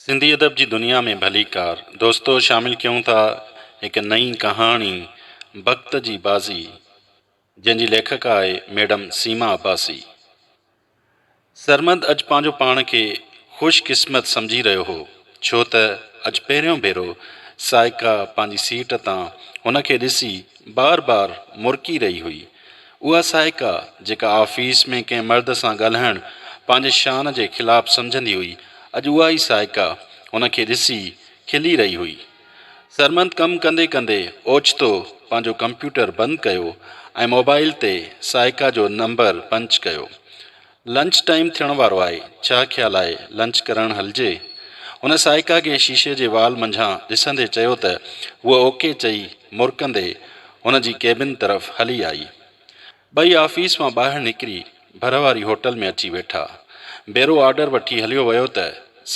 سنڌي ادب جي دنيا ۾ ڀليڪار دوستو شامل ڪيون ٿا هڪ نئين ڪهاڻي بخت جي بازي جنهن جي ليکڪا آهي ميڊم سيما عباسي. سرمد اڄ پنهنجو پاڻ کي خوش قسمت سمجهي رهيو هو ڇو ته اڄ پهريون ڀيرو سائيڪا پنهنجي سيٽ تان هن کي ڏسي بار بار مرڪي رهي هئي اها سائيڪا جيڪا آفيس ۾ ڪنهن مرد سان ڳالهائڻ پنهنجي شان جي خلاف سمجهندي هئي، اڄ اها ئي سائيڪا هن کي ڏسي کلي رهي هئي. سرمد ڪم ڪندي ڪندي اوچتو پنهنجو ڪمپيوٽر بند ڪيو ۽ موبائيل تي سائيڪا جو نمبر پنچ ڪيو. لنچ ٽائيم ٿيڻ وارو آهي، ڇا خيال آهي لنچ ڪرڻ هلجي؟ هن سائيڪا کي شيشي جي وال منجهان ڏسندي چيو ته هوء اوڪي چئي مرڪندي هن جي ڪيبن طرف هلي آئي. ٻئي آفيس مان ٻاهر نڪري ڀر واري هوٽل ۾ اچي ويٺا. بيرو آرڊر وٺي هليو ويو ته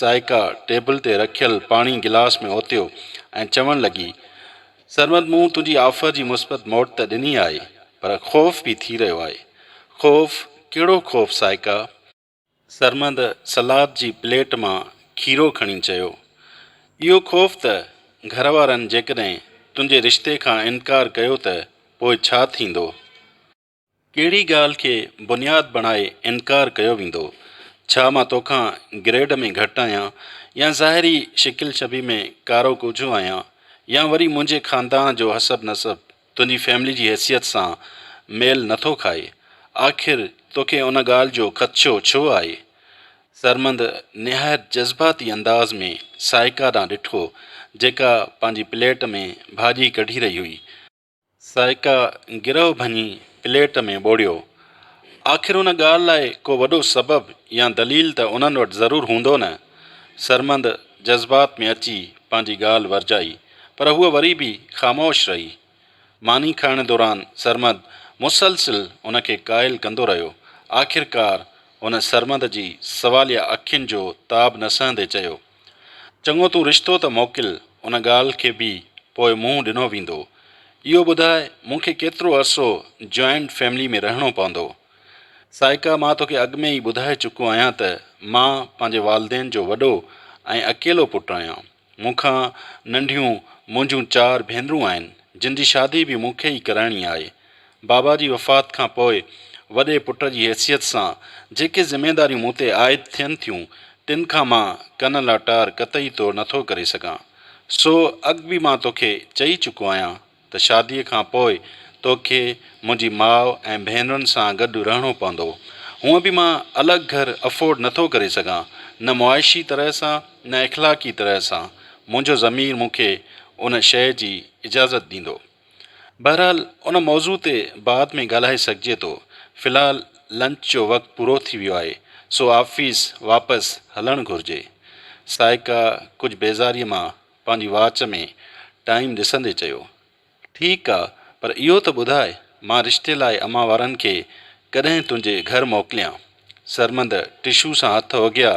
سائيڪا ٽيبل تي رکيل پاڻي گلاس ۾ اوتيو ۽ چوڻ لڳي، سرمد مون تنهنجي آفر جي مثبت موٽ ته ڏني آهي پر خوف به ٿي رهيو آهي. خوف؟ ڪهڙو خوف سائيڪا؟ سرمد سلاد جي پليٽ مان کيرو کڻي چيو. اهو خوف ته گهر وارن جيڪڏهن تنهنجي رشتي کان انڪار ڪيو ته پوء ڇا ٿيندو؟ ڪهڙي ڳالهه کي بنياد بڻائي انڪار ڪيو ويندو؟ ڇا مان توکان گريڊ ۾ گهٽ آهيان يا ظاهري شڪل شبيهه ۾ ڪارو ڪوجهو آهيان يا وري منهنجي خاندان جو حسب نسب تنهنجي فيملي جي حيثيت سان ميل نه ٿو کائي؟ آخر توکي ان ڳالهه جو خدشو ڇو آهي؟ سرمند نهايت جذباتي انداز ۾ سائيڪا ڏانهن ڏٺو جيڪا پنهنجي پليٽ ۾ ڀاڄي ڪڍي رهي هئي. سائيڪا گرهه ڀڃي پليٽ ۾ ٻوڙيو. آخر ان ڳالهه لاء ڪو وڏو سبب يا دليل ته انهن وٽ ضرور هوندو نه؟ سرمد جذبات ۾ اچي پنهنجي ڳالهه ورجائي، پر هوء وري به خاموش رهي. ماني کائڻ دوران سرمد مسلسل هن کي قائل ڪندو رهيو. آخرڪار هن سرمد جي سواليه اکين جو تاب نه سهندي چيو. چڱو تون رشتو ته موڪل، ان ڳالهه کي به پوء منهن ڏنو ويندو. اهو ٻڌاء مون کي ڪيترو عرصو جوائنٽ فيملي ۾ رهڻو پوندو؟ سائيڪا مان توکي اڳ ۾ ئي ٻڌائي چڪو آهيان ته مان پنهنجي والدين جو وڏو ۽ اڪيلو پٽ آهيان. مون کان ننڍيون منهنجون چار ڀينرون آهن، جن جي شادي به مون کي ئي ڪرائڻي آهي. بابا جي وفات کان پوء وڏي پٽ جي حيثيت سان جيڪي ذميداريون مون تي عائد ٿين ٿيون، تن کان مان ڪن لاٽار قطعي طور نه ٿو ڪري سگهان. سو اڳ به مان توکي چئي چڪو آهيان ته شاديء کان پوء توکي منهنجي ماء ۽ ڀينرن سان گڏ رهڻو پوندو. هونء به مان الڳ گهر افورڊ نه ٿو ڪري سگهان، نه معاشي طرح سان نه اخلاقي طرح سان منهنجو ضمير مون کي ان شيء جي اجازت ڏيندو. بهرحال ان موضوع تي بعد ۾ ڳالهائي سگهجي ٿو. في الحال لنچ جو وقت پورو ٿي ويو آهي سو آفيس واپس هلڻ گهرجي. سائيڪا ڪجهه بيزاريء مان پنهنجي واچ ۾ ٽائيم ڏسندي چيو. ٺيڪ آ پر اهو ته ٻڌاء مان رشتي لاء امان وارن کي ڪڏهن تنهنجي گهر موڪليان. سرمد ٽشو سان هٿ اگهيا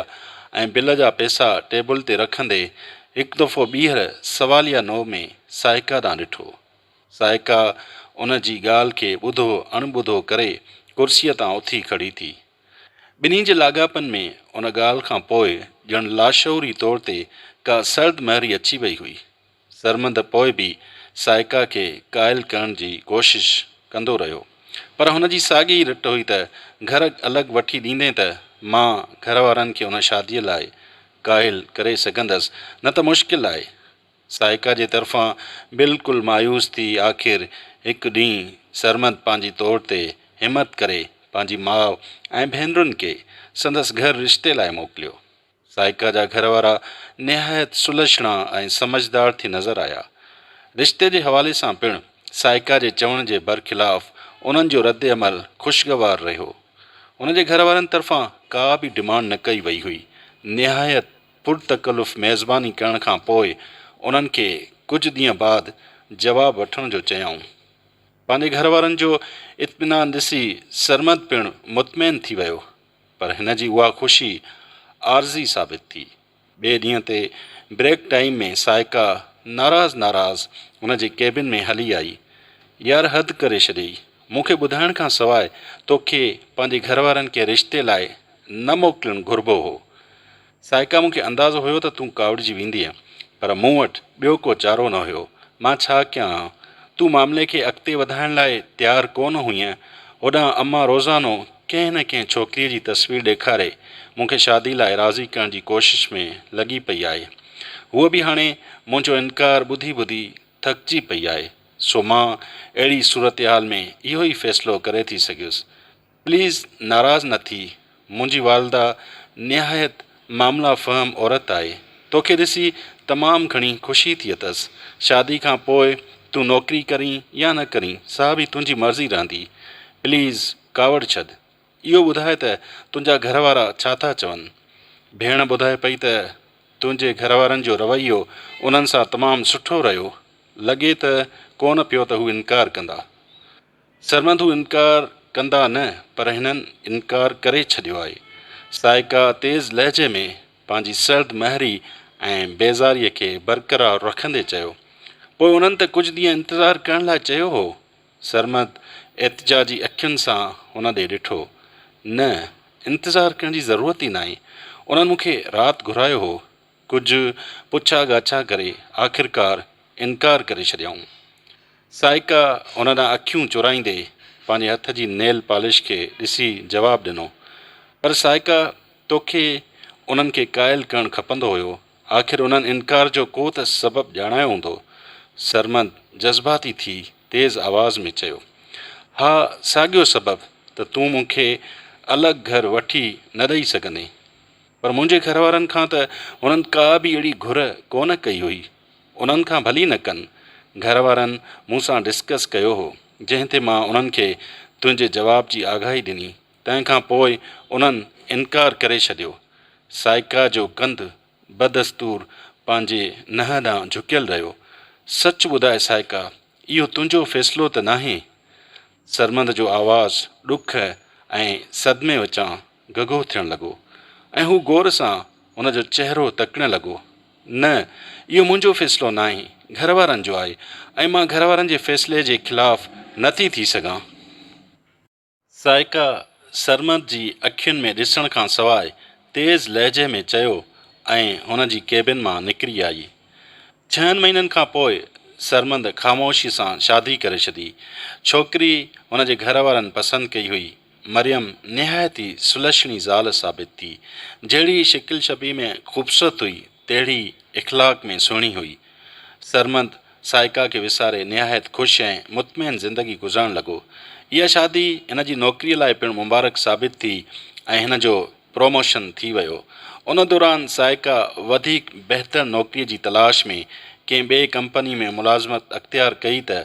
۽ بل جا پئسا ٽيبل تي رکندي هڪ دفعو ٻيهر سواليه نوع ۾ سائيڪا ڏانهن ڏٺو. سائيڪا ان جي ڳالهه کي ٻڌو اڻ ٻڌو ڪري ڪرسيء تان اٿي کڙي ٿي. ٻنهي جي لاڳاپن ۾ ان ڳالهه کان پوء ڄڻ لاشعوري طور تي ڪا سرد مهري اچي وئي هئي. سرمد پوء به سائيڪا کي قائل ڪرڻ جي ڪوشش ڪندو رهيو، پر هن جي ساڳي ئي رٽ هئي ته گهر الڳ وٺي ڏيندين ته مان گهر وارن کي ان شاديء لاء قائل ڪري سگهندس، نه ته مشڪل آهي. سائيڪا جي طرفان بلڪل مايوس ٿي آخر هڪ ڏينهن سرمد پنهنجي طور تي همت ڪري پنهنجي ماء ۽ ڀينرن کي سندس گهر رشتي لاء موڪليو. سائيڪا جا گهر وارا نهايت سلڇڻا ۽ سمجهدار ٿي نظر آيا. رشتي جي حوالي سان پڻ سائيڪا جي چوڻ جي برخلاف انهن جو رد عمل خوشگوار رهيو. هن جي گهر وارن طرفان ڪا به ڊمانڊ نه ڪئي وئي هئي. نهايت پر تڪلف ميزباني ڪرڻ کان پوء انهن کي ڪجهه ڏينهن بعد جواب وٺڻ جو چيائون. پنهنجي گهر وارن جو اطمينان ڏسي سرمد پڻ مطمئن ٿي ويو. پر هن جي اها خوشي عارضي ثابت ٿي. ٻئي ڏينهن تي بريڪ ٽائيم ۾ سائيڪا ناراض ناراض هن جي ڪيبن ۾ هلي آئي. يار حد ڪري ڇڏيئي. مون کي ٻڌائڻ کان سواء توکي پنهنجي گهر وارن ڪنهن رشتي لاء نه موڪلڻ گهربو هو. سائيڪا مون کي اندازو هيو ته تون ڪاوڙجي ويندينء، پر مون وٽ ٻيو ڪو چارو نه هيو. مان ڇا ڪيان ها؟ تون معاملي کي اڳتي وڌائڻ لاء تيار ڪو نه هئينء. هوڏانهن امان روزانو ڪنهن نه ڪنهن ڇوڪريء جي تصوير ڏيکاري مون کي شاديء لاء راضي ڪرڻ جي ڪوشش ۾ لڳي پئي آهي. هوء به هاڻي منهنجو انڪار ٻڌي ٻڌي ٿڪجي پئي آهي، سو مان اهڙي صورتحال ۾ اهو ئي فيصلو ڪري ٿي سگهيس پليز ناراض نه ٿي، منهنجي والده نهايت معاملا فهم عورت آهي، توکي ڏسي تمام گهڻي خوشي ٿي اٿس، شادي کان پوء تون نوڪري ڪرين يا نه ڪرين سا به تنهنجي مرضي رهندي، پليز ڪاوڙ ڇڏ، اهو ٻڌاء ته تنهنجا گهر وارا ڇا ٿا چون؟ ڀيڻ ٻڌائي پئي ته تنهنجي گهر وارن جو رويو انهن سان تمام سٺو رهيو، لڳي ته ڪونه پيو ته هو انڪار ڪندا. سرمنڌو انڪار ڪندا نه پر هنن انڪار ڪري ڇڏيو آهي. سائيڪا تيز لهجي ۾ پنهنجي سرد مهري ۽ بيزاريء کي برقرار رکندي چيو. پوء انهن ته ڪجهه ڏينهن انتظار ڪرڻ لاء چيو هو. سرمد احتجاجي اکين سان هن ڏي ڏٺو. نه، انتظار ڪرڻ جي ضرورت ئي ناهي. انهن مون کي رات گهرايو هو. ڪجهه پڇا ڳاڇا ڪري آخرڪار انڪار ڪري ڇڏيائون. سائيڪا هن ڏانهن اکيون چورائيندي پنهنجي هٿ جي نيل پالش کي ڏسي جواب ڏنو، پر سائيڪا توکي انهن کي قائل ڪرڻ کپندو هيو، آخر انهن انڪار جو ڪو ته سبب ڄاڻايو هوندو. سرمد جذباتي ٿي تيز آواز ۾ چيو، ها ساڳيو سبب ته تون مون کي الڳ گهر وٺي نه ڏئي سگهندين. پر منهنجي گهر وارن کان ته هنن ڪا به اهڙي گهر ڪونه ڪئي هئي. انهن کان ڀلي نه ڪن. گهر وارن مون سان ڊسڪس ڪيو هو، جنهن تي مان انهن کي تنهنجي جواب جي آگاهي ڏني، تنهن کان پوء انهن انڪار ڪري ڇڏيو. سائيڪا جو ڪنڌ بدستور پنهنجي ننهن ڏانهن جهڪيل رهيو. سچ ٻڌاء سائيڪا، اهو تنهنجو فيصلو ته ناهي؟ سرمد جو آواز ڏک ۽ صدمي وچان گگهو ٿيڻ لڳو ۽ هو غور سان هن جو چهرو تڪڻ لڳو. نه، اهو منهنجو فيصلو ناهي، گهر وارن جو آهي ۽ مان گهر وارن جي فيصلي جي خلاف نه ٿي ٿي سگهان. ذائقه سرمد جي اکين ۾ ڏسڻ کان سواء تيز لهجي ۾ چيو ۽ هن جي ڪيبن مان نڪري آئي. ڇهن مهينن کان پوء سرمد خاموشي سان شادي ڪري ڇڏي. ڇوڪري هن جي گهر وارن پسند ڪئي هئي ۽ مريم نهايت ئي سلڇڻي زال ثابت ٿي. جهڙي شڪل شبيهه ۾ خوبصورت هئي، تهڙي ئي اخلاق ۾ سهڻي هئي. سرمد، سائيڪا کي وساري نهايت خوش ۽ مطمئن زندگي گذارڻ لڳو. اها شادي هن جي نوڪريء لاء پڻ مبارڪ ثابت ٿي ۽ هن جو پروموشن ٿي ويو. ان دوران سائيڪا وڌيڪ بهتر نوڪريء جي تلاش ۾ ڪنهن ٻئي ڪمپنيء ۾ ملازمت اختيار ڪئي ته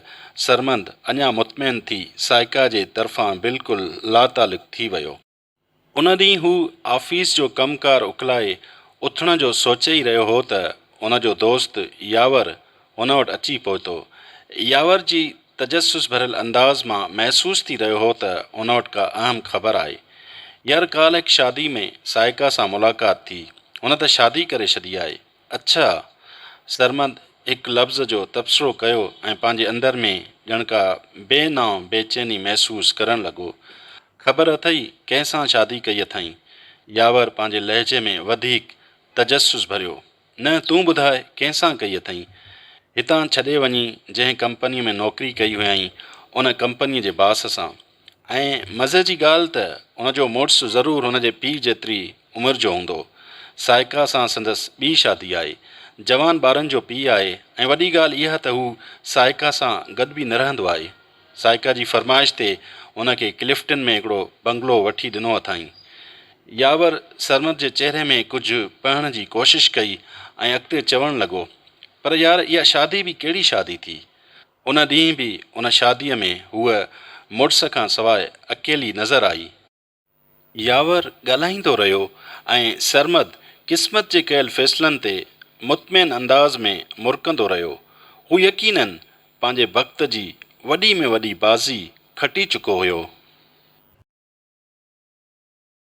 سرمد اڃا مطمئن ٿي سائيڪا جي طرفان بلڪل لاتعلق ٿي ويو. ان ڏينهن هو آفيس جو ڪم ڪار اڪلائي اٿڻ جو سوچي ئي رهيو هو ته ان جو دوست ياور هن وٽ اچي پهتو. ياور جي تجسس ڀريل انداز مان محسوس ٿي رهيو هو ته هن وٽ ڪا اهم خبر آهي. يار ڪالهه هڪ شادي ۾ سائيڪا سان ملاقات ٿي. هن ته شادي ڪري ڇڏي آهي. اڇا! سرمد هڪ لفظ جو تبصرو ڪيو ۽ پنهنجي اندر ۾ ڄڻ ڪا بي نانء بيچيني محسوس ڪرڻ لڳو. خبر اٿئي ڪنهن سان شادي ڪئي اٿائين؟ ياور پنهنجي لهجي ۾ وڌيڪ تجسس ڀريو. نه تون ٻڌاء ڪنهن سان ڪئي اٿئي؟ هتان ڇڏي وڃي جنهن ڪمپنيء ۾ نوڪري ڪئي هيائين ان ڪمپنيء جي باس سان. ۽ مزي جي ڳالهه ته ان جو مڙس ضرور هن جي پيء جيتري عمر جو هوندو. سائيڪا سان سندس ٻي شادي آهي. جوان ٻارن جو پيء آهي ۽ وڏي ڳالهه اها ته هو سائيڪا سان گڏ به نه رهندو آهي. سائيڪا جي فرمائش تي هن کي ڪلفٽن ۾ هڪڙو بنگلو وٺي ڏنو اٿائين. ياور سرمد جي چهري ۾ ڪجهه پڙهڻ جي ڪوشش ڪئي ۽ اڳتي چوڻ لڳو، پر يار اها شادي به ڪهڙي شادي ٿي. ان ڏينهن به ان شاديء ۾ هوء مڙس کان سواء اڪيلي نظر آئي. ياور ڳالهائيندو رهيو ۽ سرمد قسمت جي ڪيل فيصلن تي مطمئن انداز ۾ مرڪندو رهيو. هو يقيناً پنهنجي بخت جي وڏي ۾ وڏي بازي کٽي چڪو هيو.